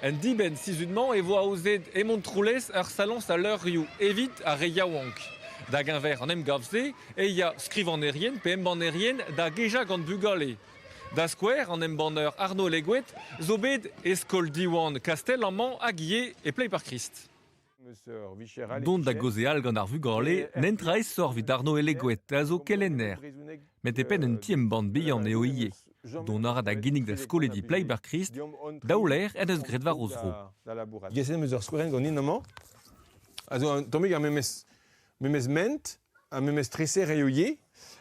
En dibenn-sizhun-mañ e vo aozet Hemon-Troulez ar saloñs a levrioù evit ar re yaouank. Da geñver an emgav-se e ya skrivagnerien pe embannerien da gejañ gant bugale. Da skouer, an embanner Arnaud Leguet zo bet e skol Diwan Kastell amañ hag ivez e Pleiparkrist. Dont da gaozeal gant ar vugale n'ent aesoc'h evit Arno Elegoet a zo kelenner. Met e penn un ti-embann bihan eo ivez. Dont a ra da ginnig da skolidi Playberkrist daou lec'h en deus graet war o zro. Geset em eus ur skouerenn ganin amañ, a zo un tammig ar memes, memes ment, ar memes treser eo ivez,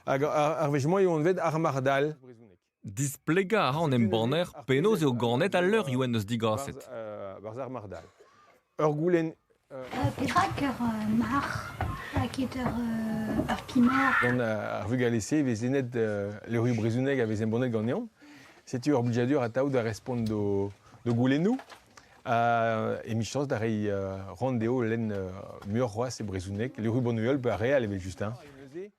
hag ar wech-mañ eo anvet ar marc'h-dal. Displegañ a ra an embanner penaos eo ganet al levrioù en deus digaset. Ur goulenn Perak ur marc'h ket ur kimer Gant ar vugale-se e vez lennet levrioù brezhonek a vez embannet ganeomp. Setu ur blijadur atav da respont d'o goulennoù. Ha emichañs da reiñ ran dezho lenn muioc'h c'hoazh e brezhoneg. Levrioù bannuel, pe ar re all evel just.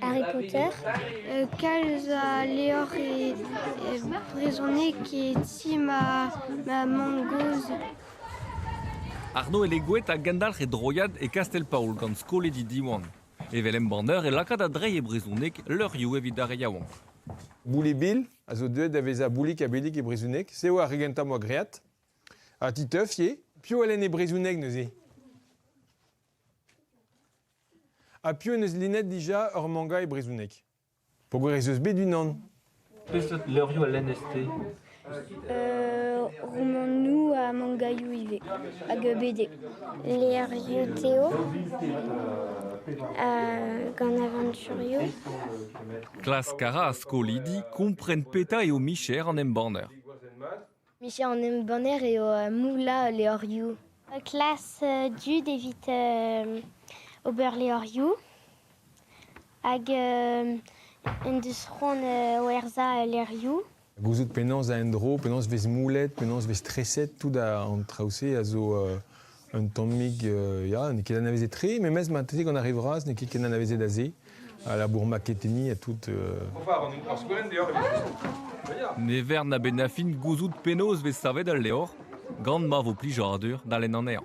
Harry Potter, kalz a levr brezhonek e ti ma mamm-gozh. Arno Elegouet a gendalc'h e droiad e Kastell-Paol gant skolidi Diwan. Evel embanner e lakaat a-dreiñ e brezhoneg levrioù evit ar re yaouank. Boulibil a zo deuet da vezañ Boulik ha Billig e brezhoneg, se eo ar re gentañ 'moa graet. Ha titeuf eo? Piv a lenn e brezhoneg neuze? Ha piv en deus lennet dija ur manga e brezhoneg? Peogwir ez eus bet unan. Peseurt levrioù a lennez-te? Euh, romandoù ha mangaioù ivez, hag BD. Levrioù Teo, euh, gant aventurioù. Klask a ra ar skolidi kompren petra eo micher an embanner. Micher an embanner eo moullañ levrioù. Klas dud evit ober levrioù hag en deus c'hoant werzhañ levrioù. Gouzout penaos a endro, penaos 'vez moullet, penaos 'vez treset, tout an traoù-se a zo Un tammig, ya, n'eo ket anavezet tre, memes marteze gant ar re vras n'eo ket ken anavezet aze, à la bourmaqueteni, à tout. Ne vern a-benn gouzout penaos vez savet al levr, gant ma vo plijadur da lenn anezhañ.